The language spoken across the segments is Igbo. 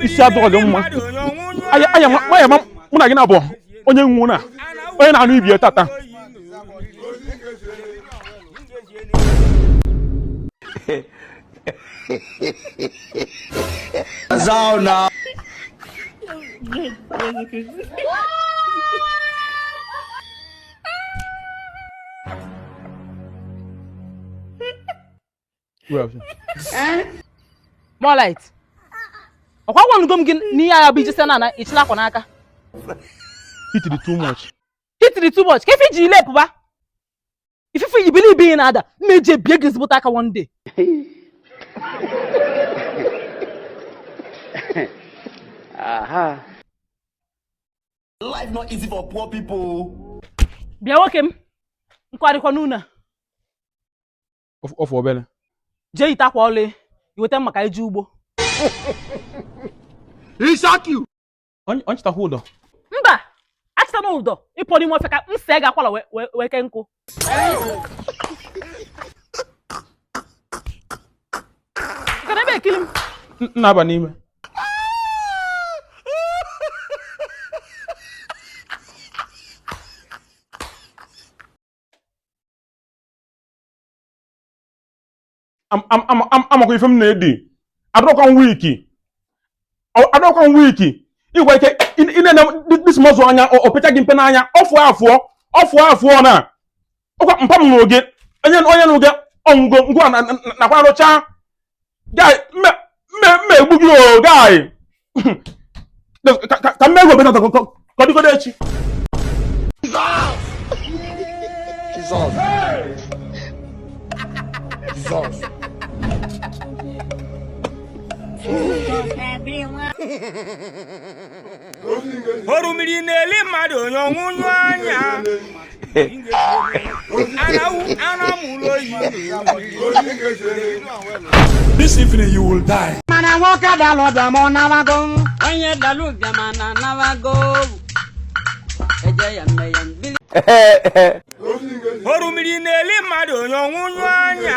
isi adịghọ gị mma aya aya nwa aya ma mụ na gị na-abụ onye nwụ na onye na-anụ ibe ya tata More light ọkwa agwanugo m gị n'ihe agha bụ ijesi na ịchịla akwa n'aka heat dị too much heat dị too much kee ife iji ile pụba ifufe yi bili ibe na-ada mma eji ebie gị ezigbote aka one day life not easy for poor people bịa nwoke m nkwarịkwa n'ụnọ Of- ofu obere jee yite akwa ọlụ i weta mma ka e jee ugbo Onye- onye chịtakwa ụdọ mba achịtana ụdọ ị pụọ n'ime ọfịa ka m see gị akwala wee- wee wee kee nkụ Ị ka nọ ebe ekiri m N- na-aba n'ime amakwa ife m na-edi adọkwa m weak adọkwa m weak ịgwa ike ị na-ene this muscle anya o pecha gị mpe n'anya ofu afụọ ofu afụọ na ọkwa mpa m n'oge onye onye n'oge ọnwụgo ngwa nakwa arụcha guy mme mme mme egbu gị o guy ka m mee egwu obetata ka ọ dịgodo echi Jesus. Jesus. Jesus. orumiri na-eli mmadụ onye ọnwụ nyụ anya anamụlụ oyi This evening you will die. mana nwoke dalụ bịa ma ọ nawago onye dalụ bịa ma na nawago eje ya mme ya mbili orumiri na-eli mmadụ onye ọnwụ nyụ anya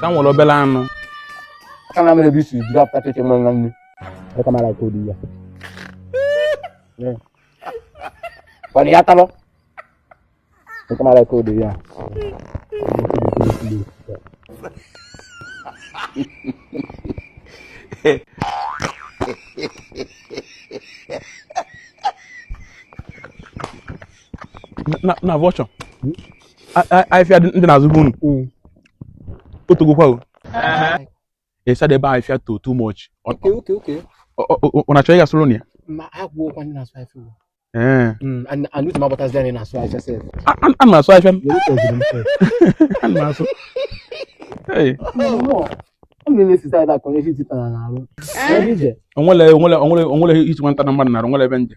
ka m were obere anụ aka na mere ebe isi jiri apụta cheche nwa nwa nne aka mara ka odi ya kwana ya talọ aka mara ka odi ya na na voucher afịfịa ndị n'azụ be unu hmm. o togokwa o ịsada ebe afịfịa to too much ọ na-achọ ịga soro na ya ana m asụ afịfịa m asụ o nwere o nwere o nwere o nwere isi nwata na mmadụ nara o nwere ebe nje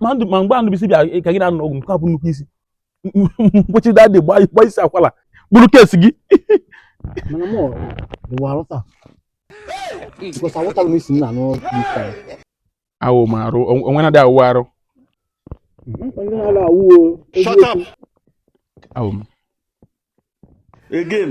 ma ndụ ma mgbe anụbisi bịa ka gị na-aṅụ ọgwụ nke a bụ nnukwu isi mkpochi daddy gba isi akwala bụrụ case gị awụ m arụ o nwe na-adị awụ arụ awụ m again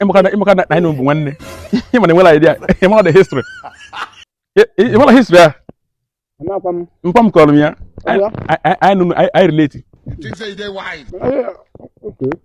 ị makwa na anyị bụ nwanne ị ma na enwela idea ị ma the history ị mala history a mpa m kọrọ m ya anyị relate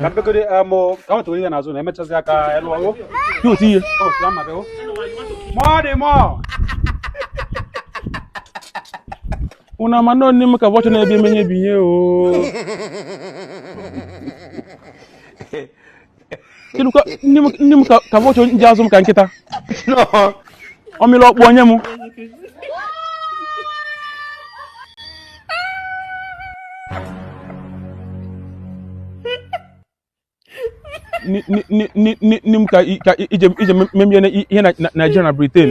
ka mbegoro amụ ka nwetara ihe n'azụ na emechazi aka elu ọrụ dị otu ihe ka nwetara mma bịa mụọ dị mụọ unu ama nọ n'ime ka ụbọchị na-ebi emenye bi ihe o kedu ka nne m ka ụbọchị ndị azụ m ka nkịta ọ mịla ọkpụ o nye m nne m ka i je memie ihe na Naịjirịa na Britain